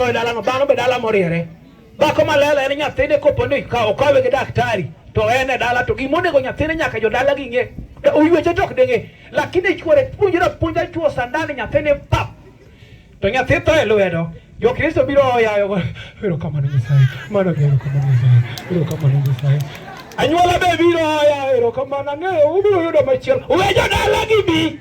e dalano dhano be dala moriere dhako malela en nyathine kopo ni ka okawe gi daktari to en e dala to gimonego nyathine nyaka jodala gi ng'e Da- oyweche tok denge lakini chuore puonjre puonja chuo sandani nyathine pap to nyathi tho e lwedo jokristo biro oyayo erokamano nyasaye mano gi erokamano nyasaye erokamano nyasaye anyuola be biro oyayo erokamano ang'eyo ubiro yudo machielo we jodala gi bi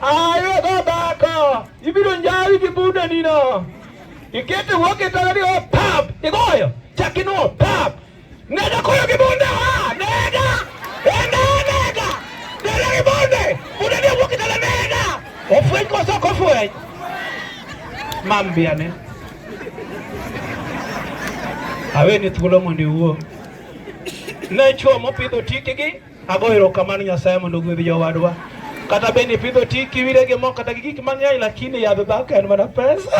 Ayo babako, ibiro njawi gi buda nino. Ikete woke tala ni opap, oh, igoyo, chaki no opap. Oh, nega koyo gi bunda, ha, nega, enda nega, nega gi bunde, buda ni woke tala nega. Ofweny koso kofweny. Mam biane. Awe ni thuolo mondo iwuo. Ne chuo mopidho tikigi Ago erokamano Nyasaye mondo ogwedh jowadwa. Kata bende ipidho ti kiwire gi mo kata gi gik mang'eny lakini yadh dhako en mana pesa.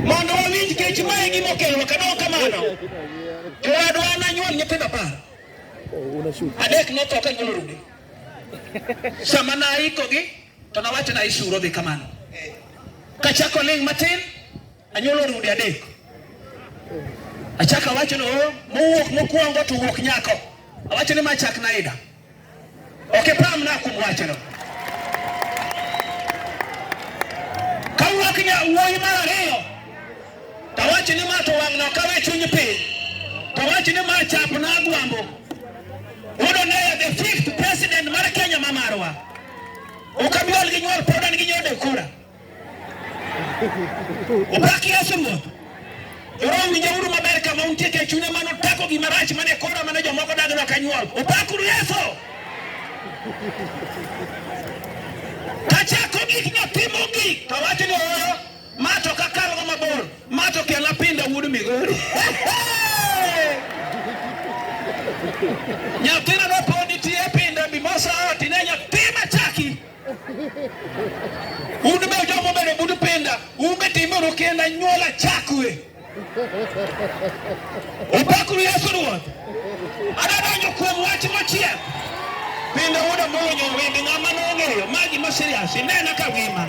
Mondo wawinj kech mae gima okelwa kata ok kamano. Jowadwa an anyuol nyithindo apar. Adek notho ka nyuol rude. Sama naikogi To nawacho na isuro dhi kamano. Kachako ling' matin, anyuolo rude adek. Achaka wacho no oh, mowuok mokwongo to wuok nyako. Awacho ni machak na ida. Okay, pam na kum wacho no. Kawuok nya wuoyi mar ariyo. Tawacho ni mato wang' no kawe chuny piny. Tawacho ni machap na agwambo. Udo ne the fifth president mar Kenya mamarwa. Ukabiol gi nyuol pod an gi nyode kura. Upaki Yesu Ruoth. Roho winjo uru maber kama untie ke chune mano tako gima rach mane kora mane jomoko dagno ka nyuol. Upakuru Yesu. Kachako gik nyathi mogik to wachni oro ma to kakalogo mabor. Mato kela pinda wuod Migori. Nyathina noponi tie pinda mimosa oti ne nyathi machaki. Un be jomo bedo bud pinda, un be timbe uru kenda nyuola chakwe. Opakuru Yesu Ruoth. Adadonjo kuom wach mochiek. Pinda wuod Amolo Nyawindi ng'ama nong'eyo magi ma serious inena ka wima.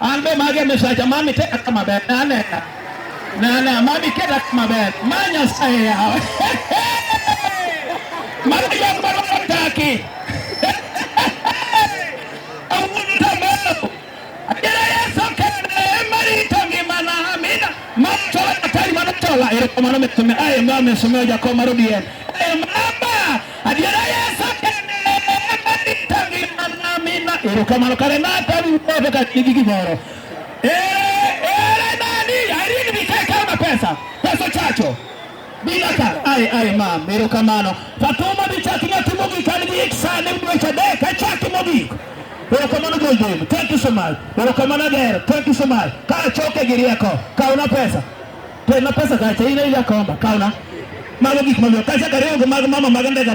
An be mage misacha mami teka kama ber na ne na na mami keta kama ber manya saye ya mami ya kwa kwa taki Awunu tamelo Adira yeso kene mari tangi mana amina Matola tari mana tola Ero kumano metume aye mame sumeo jakoma rudie Aye mama erokamano kare natani umoto ka nigi gimoro ere nani arini mikeka na pesa pesa chacho bila ka ai ai mam erokamano fatuma bichaki natimo gik an gi sani dweche adek achaki mogik erokamano joldem thank you so much erokamano ager thank you so much ka achoke gi rieko kawna pesa To ema pesa kacha ina ila komba kauna. Mago gik mamiyo kacha kariyo gi mag mama mag ndega.